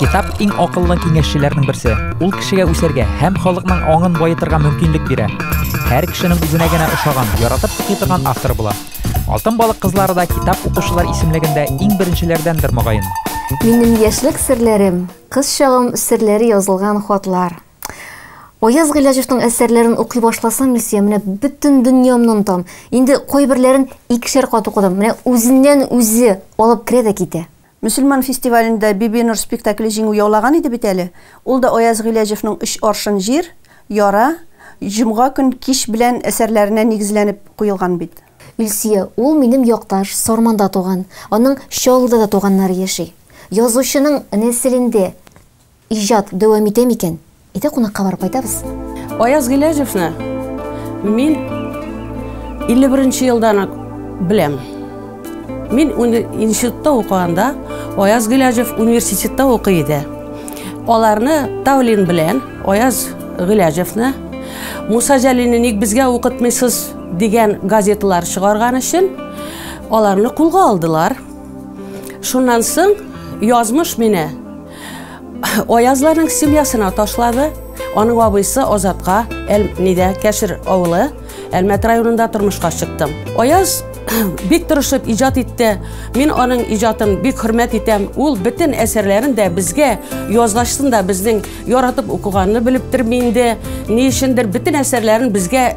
Китап иң акыллы киңәшчеләрнең берсе. Ул кешегә үсәргә һәм халыкның аңын баетырга мөмкинлек бирә. Һәр кешенең үзенә генә ошаган, яратып укый торган автор була. Алтын балык кызлары да китап укучылар исемлегендә иң беренчеләрдәндер мөгаен. Минем яшьлек серләрем, кыз чагым серләре язылган хатлар. Аяз Гыйләҗевның әсәрләрен укый башласам, Илсөя, менә бөтен дөньямны онтам. Инде кайберләрен икешәр кат укыдым. Менә үзеннән-үзе алып керә дә китә. Мөселман фестивалендә Бибинур спектакле җиңү яулаган иде бит әле. Ул да Аяз Гыйләҗевның Өч аршын җир, Яра, Җомга көн кич белән әсәрләренә нигезләнеп куелган бит. Илсөя, ул минем якташ, Сарманда туган. Аның Чаллыда да туганнары яши. Язучының нәселендә Иҗат дәвам итә микән? Әйдә кунакка барып кайтабыз. Аяз Гыйләҗевны мин 51 нче елдан ук беләм. Мин институтта укыганда Аяз Гыйләҗев университетта укый иде. Аларны Тавлин белән Аяз Гыйләҗевны Муса Җәлилне ник безгә укытмыйсыз дигән газеталар чыгарган өчен аларны кулга алдылар. Шуннан соң язмыш мине Аязларның семьясына ташлады. Аның абыйсы Азатка әл нидә Кәшер авылы Әлмәт районында тормышка чыктым. Аяз бик тырышып иҗат итте. Мин аның иҗатын бик хөрмәт итәм. Ул бөтен әсәрләрен дә безгә язгачтын да безнең яратып укыганны белеп тормый инде. Ни өчендер бөтен әсәрләрен безгә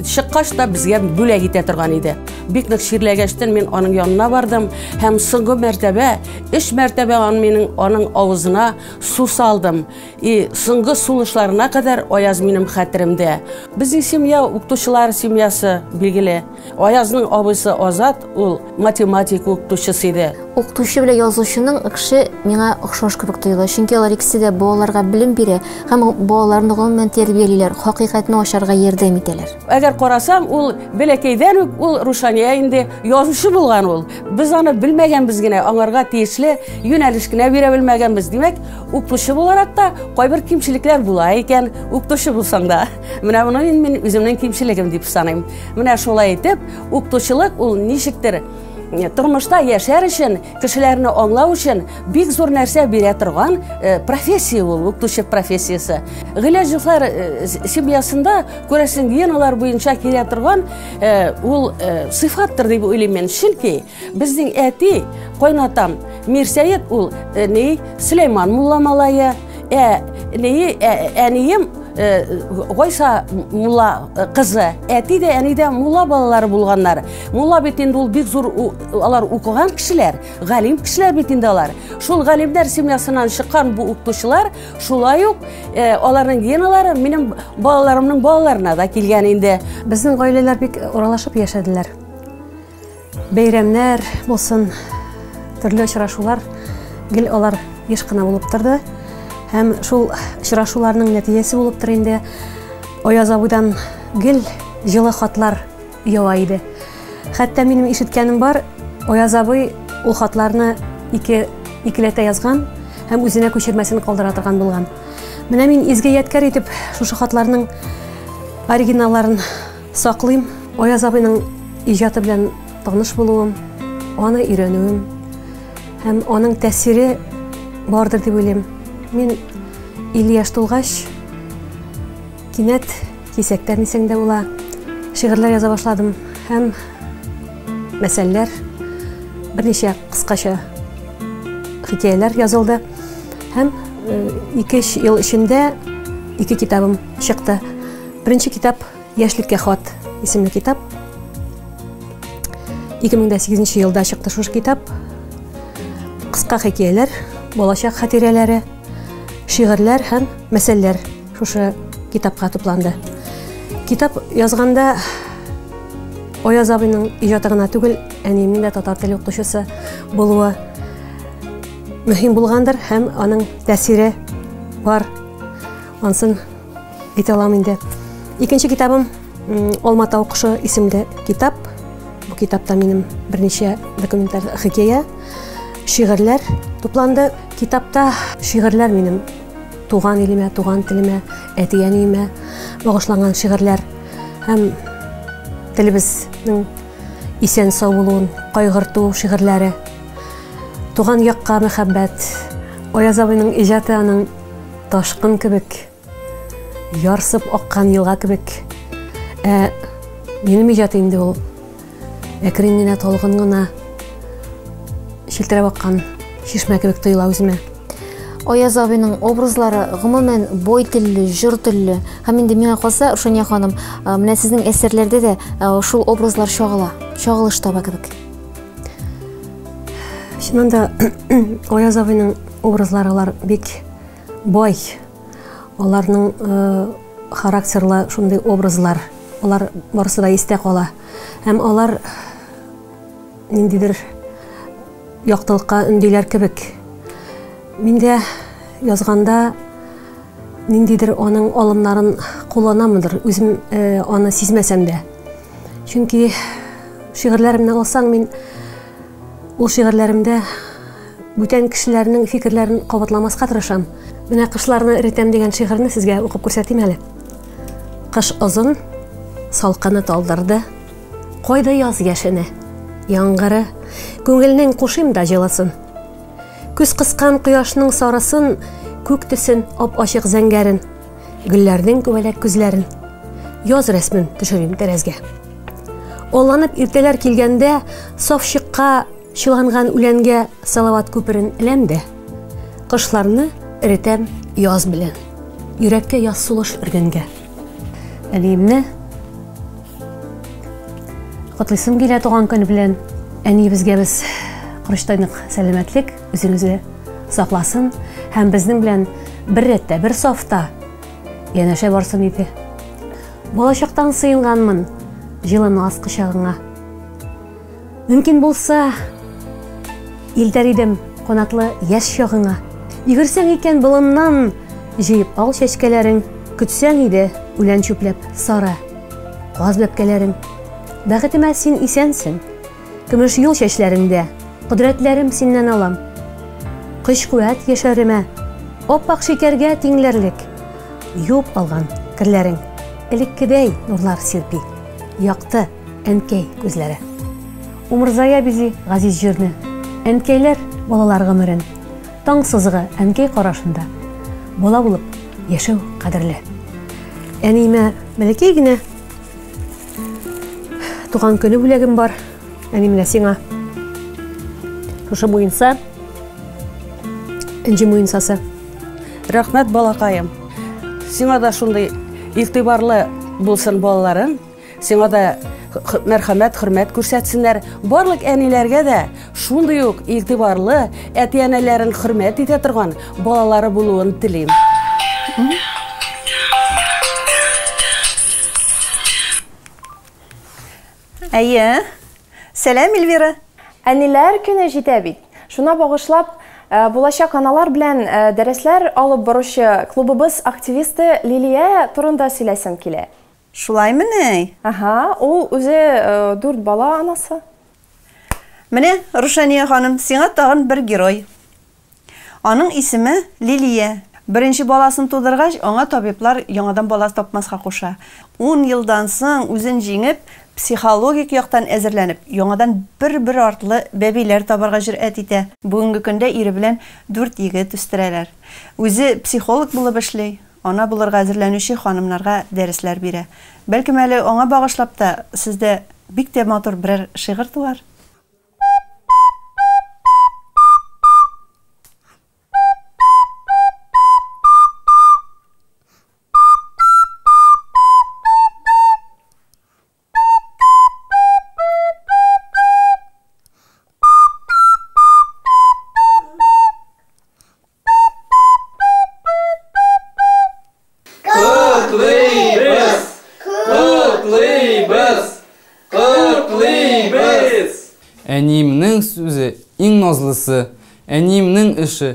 чыккач та безгә бүләк итә торган иде. Бик нык чирләгәчтен мин аның янына бардым һәм соңгы мәртәбә Өч мәртәбә ан минем аның авызына су салдым. И соңгы сулышларына кадәр Аяз минем хәтеремдә. Безнең семья укытучылар семьясы билгеле. Аязның абыйсы Азат ул математика укытучысы иде. Укытучы белән язучының экше миңа охшаш кебек тоела, чөнки алар икесе дә балаларга белем бирә һәм балаларны гомумән тәрбиялиләр, хакыйкатьне ачарга ярдәм итәләр. Әгәр карасам, ул бәләкәйдән үк ул Рушания инде язучы булган ул. Без аны белмәгәнбез генә, аңарга тиешле юнәлеш кенә бирә белмәгәнбез. Димәк, укытучы буларак та кайбер кимчелекләр була икән, укытучы булсаң да. Менә моны мин, мин үземнең кимчелегем дип саныйм. Менә шулай итеп, укытучылык ул ничектер э, тормышта яшәр өчен, кешеләрне аңлау өчен бик зур нәрсә бирә торган э, профессия ул, укытучы профессиясе. Гыйләҗевлар э, семьясында күрәсең геналар буенча килә торган Э, ул э, сыйфаттыр дип уйлыйм мен чөнки безнең әти кайнатам мирсәет ул э, ни сөләйман мулла малае ә ни әнием гайса мулла кызы әти дә әни дә мулла балалары булганнар мулла бит инде ул бик зур алар укыган кешеләр галим кешеләр бит инде алар шул галимнәр семьясыннан чыккан бу укытучылар Шулай ук э, аларның геналары минем балаларымның балаларына да килгән инде. Безнең гаиләләр бик уралашып яшәделәр. Бәйрәмнәр булсын, төрле очрашулар гел алар еш кына булып торды. Һәм шул очрашуларның нәтиҗәсе булып тор инде. Аяз абыйдан гел җылы хатлар Яла иде. Хәтта минем ишеткәнем бар, Аяз абый ул хатларны ике икеләтә язган һәм үзенә күчермәсен калдыра торган булган. Менә мин изге ядкәр итеп шушы хатларның оригиналларын саклыйм. Аяз абыйның иҗаты белән таныш булуым, аны өйрәнүем һәм аның тәсире бардыр дип уйлыйм. Мин 50 яшь тулгач кинәт Кисәктән исән дә була. Шигырьләр яза башладым һәм мәсәлләр берничә кыскача хикәяләр язылды һәм э, ике ел эчендә ике китабым чыкты. Беренче китап Яшьлеккә хат исемле китап. 2008 елда чыкты шушы китап. Кыска хикәяләр, балачак хатирәләре, шигырьләр һәм мәсәлләр Шушы китапка тупланды. Китап язганда Аяз абыйның иҗаты гына түгел, әниемнең дә татар теле укытучысы булуы мөһим булгандыр һәм аның тәсире бар. Ансын әйтә алам инде. Икенче китабым Алма тау кошы исемле китап. Бу китапта минем берничә документаль хикәя, шигырьләр тупланды. Китапта шигырьләр минем Туган илемә, туган телемә, әти-әниемә багышланган шигырьләр һәм телебезнең исән сау булуын кайгырту шигырьләре. Туган якка мәхәббәт. Аяз абыйның иҗаты аның ташкын кебек, ярсып аккан елга кебек. Ә минем иҗаты инде ул Әкрен генә талгын гына челтерәп аккан чишмә кебек тоела үземә. Аяз абиның образлары гомумән бой телле, җыр телле. Һәм инде миңа калса, Рушания ханым, менә сезнең әсәрләрдә дә шул образлар чагыла, чагылыш таба кебек. Чыннан да Аяз абиның образлары бик бай. Аларның Характерлы шундый образлар, алар барысы да истә кала. Һәм алар ниндидер яктылыкка өндиләр кебек. Миндә язганда ниндидер аның алымнарын кулланамындыр, үзем э, аны сизмәсәм дә. Чөнки шигырьләремне алсаң, мин ул шигырьләремдә Бүтән кешеләрнең фикерләрен кабатламаска тырышам. Менә Кышларны эретәм дигән шигырьне сезгә укып күрсәтим әле. Кыш озын, салкыны талдырды, Кайда яз яшене, яңгыры, Күңелнең кушыйм да җылысын. Күз кыскан кояшның сарысын, Күк төсен, ап-ачык зәңгәрен, Гөлләрнең күбәләк күзләрен. Яз рәсмен төшерим тәрәзгә. Алланып иртәләр килгәндә, Саф чыкка Чыланган үләнгә салават күперен эләм дә, Кышларны эретәм яз белән, Йөрәккә яз сулыш өргәнгә. Әниемне котлыйсым килә туган көн белән. Әниебезгә без корычтайнык сәламәтлек, үзеңезгә сакласын һәм безнең белән бер рәттә, бер сафта янәшә барсын иде. Балачактан сыенганмын җылы наз кочагыңа. Мөмкин булса, илтәр идем канатлы яшь чагыңа. Йөгерсәң икән болыннан, җыеп ал чәчкәләрең, көтсәң иде үлән чүпләп сары каз бәбкәләрең. Бәхетемә син исәнсең, көмеш юл чәчләреңдә кодрәтләрем синнән алам. Көч-куәт яшәремә, аппак шикәргә тиңләрлек, юып алган керләрең элеккедәй нурлар сирпи, якты. Әнкәй күзләре. Умырзая бизи газиз җирне. Әнкәйләр балалар гомерен. Таң сызыгы әнкәй карашында. Бала булып яшәү кадерле. Әниемә бәләкәй генә туган көне бүләгем бар. Әни менә сиңа. Шушы муенса. Энҗе муенсасы. Рәхмәт балакаем. Сиңа да шундый игътибарлы булсын балаларың. Сиңа да мәрхәмәт, хөрмәт күрсәтсеннәр. Барлык әниләргә дә шундый ук игътибарлы, әти-әниләрен хөрмәт итә торган балалары булуын телим. Әйе. Сәлам, Эльвира. Әниләр көне җитә бит. Шуна багышлап, Э, булачак аналар белән э, дәресләр алып баручы клубыбыз активисты Лилия турында сөйләсем килә. Шулаймы ни? Аһа, ул үзе дүрт бала анасы. Менә, Рушания ханым, сиңа тагын бер герой. Аның исеме Лилия. Беренче баласын тудыргач, аңа табиблар яңадан бала тапмаска куша. Ун елдан соң үзен җиңеп, психологик яктан әзерләнеп, яңадан бер-бер артлы бәбиләр табарга җөрьәт итә. Бүгенге көндә ире белән дүрт егет үстерәләр. Үзе психолог булып эшли. Ана булырга әзерләнүче ханымнарга дәресләр бирә. Бәлкем әле аңа багышлап та сездә бик тә матур берәр шигырь туар? Әниемнең сүзе иң назлысы, әниемнең эше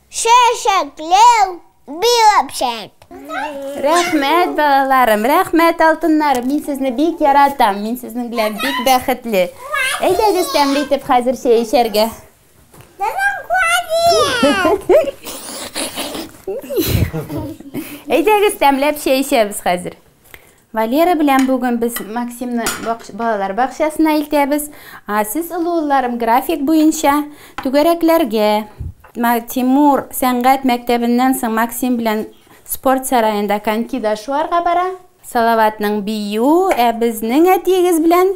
Чәчәкләр биреп чәк. Рәхмәт, балаларым, рәхмәт, алтыннарым. Мин сезне бик яратам. Мин сезнең белән бик бәхетле. Әйдәгез, тәмле итеп хәзер чәй эчәргә. Әйдәгез, тәмләп чәй эчәбез хәзер. Валера белән бүген без Максимны балалар бакчасына илтәбез. Ә сез, олы улларым, график буенча түгәрәкләргә. Тимур сәнгать мәктәбеннән соң Максим белән спорт сараенда конькида шуарга бара. Салаватның бию, ә безнең әтиегез белән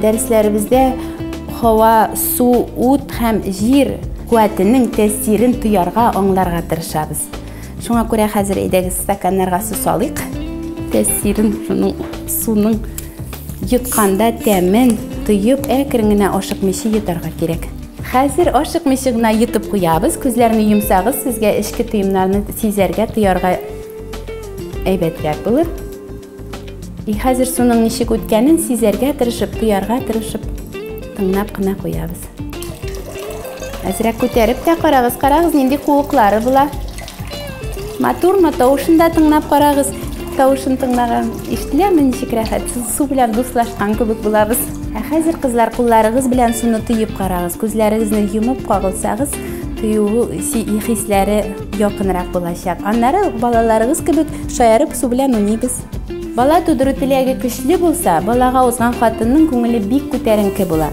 Дәресләребездә һава, су, ут һәм җир куәтенең тәэсирен тоярга, аңларга тырышабыз. Шуңа күрә хәзер әйдәгез стаканнарга су салыйк. Тәэсирен шуның суның йотканда тәмен тоеп, әкрен генә ашыкмыйча йотарга кирәк. Хәзер ашыкмыйча гына йотып куябыз. Күзләрне йомсагыз, сезгә эчке тоемнарны сизәргә, тоярга әйбәтрәк булыр. И хәзер суның ничек үткәнен сизәргә тырышып, тоярга тырышып, тыңлап кына куябыз. Әзрәк күтәреп тә карагыз, карагыз, нинди куыклары була. Матурмы, тавышын да тыңлап карагыз. Тавышын тыңлаган ишетеләме ничек рәхәт? Су белән дуслашкан кебек булабыз. Ә хәзер кызлар кулларыгыз белән суны тоеп карагыз. Күзләрегезне йомып кагылсагыз, тыюы хисләре Якынрак булачак. Аннары балаларыгыз кебек шаярып су белән уйныйбыз. Бала тудыру теләге көчле булса, балага узган хатынның күңеле бик күтәренке була.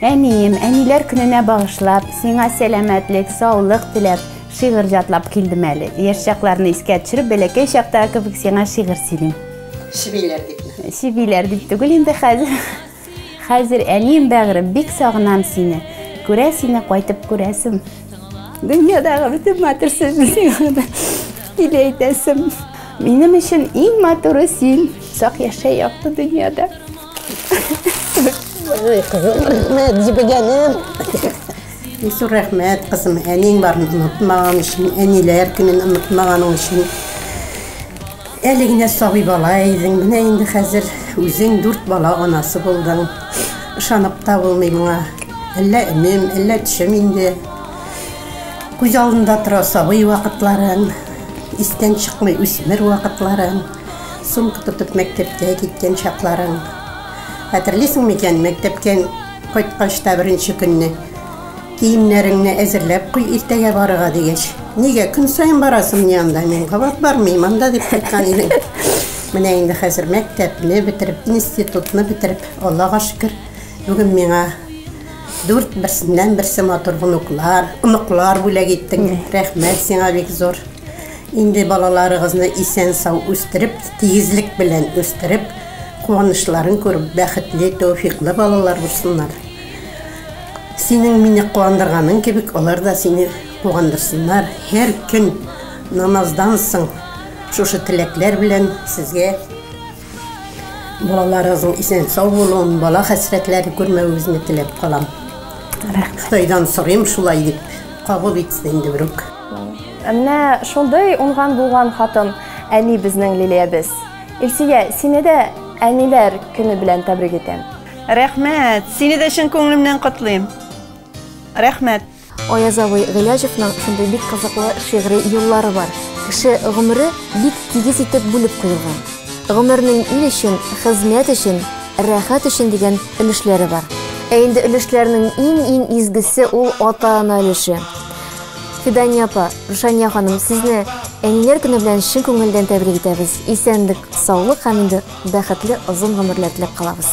Әнием, әниләр көненә багышлап, сиңа сәламәтлек, саулык теләп, шигырь җатлап килдем әле. Яшь чакларны искә төшереп, бәләкәй чактагы кебек сиңа шигырь сөйлим. Чебиләр дипме? Чебиләр дип түгел инде хәзер. Хәзер, әнием бәгырем, бик сагынам сине. Күрә сине кайтып күрәсем. Дөньядагы бөтен матур сүзне сиңа да тиле әйтәсем. Минем өчен иң матуры син. Сак яшә якты дөньяда. Ой, кызым, рәхмәт, җибегәнем. Ису рәхмәт, кызым, әнең барын онытмаган өчен, әниләр көнен онытмаганың өчен. Әле генә сабый бала идең, менә инде хәзер үзең дүрт бала анасы булдың. Ышанып та булмый моңа. Әллә өнем, әллә төшем инде. Күз алдында тора сабый вакытларың, истән чыкмый үсмер вакытларың. Сумка тотып мәктәпкә киткән чакларың. Хәтерлисең микән, мәктәптән кайткач та беренче көнне, Киемнәреңне әзерләп куй, иртәгә барырга, дигәч. Нигә, көн саен барасыңмыни анда? Мин кабат бармыйм анда, дип кайткан идең. Менә инде хәзер мәктәпне бетереп, институтны бетереп, Аллага шөкер, бүген миңа дүрт берсеннән-берсе матур онуклар, оныклар бүләк иттең. Рәхмәт сиңа бик зур. Инде балаларыгызны исән-сау үстереп, тигезлек белән үстереп, куанычларын күреп, бәхетле, тәүфиклы балалар булсыннар. Синең мине куандырганың кебек, алар да сине куандырсыннар. Һәр көн намаздан соң шушы теләкләр белән сезгә балаларыгызның исән-сау булуын, бала хәсрәтләрен күрмәвегезне теләп калам. Рәхмәт. Ходайдан сорыйм шулай дип, кабул итсен инде берүк. Менә шундый уңган булган хатын әни безнең Лилиябез. Илсөя, сине дә әниләр көне белән тәбрик итәм. Рәхмәт! Сине дә чын күңелемнән котлыйм. Рәхмәт! Аяз абый Гыйләҗевның шундый бик кызыклы шигъри юллары бар. Кеше гомере бик тигез итеп бүлеп куелган. Гомернең ил өчен, хезмәт өчен, рәхәт өчен дигән өлешләре бар. Ә инде өлешләрнең иң-иң изгесе ул ата-ана өлеше. Фидания апа, Рушания ханым, сезне әниләр көне белән чын күңелдән тәбрик итәбез. Исәнлек, саулык һәм инде бәхетле озын гомерләр теләп калабыз.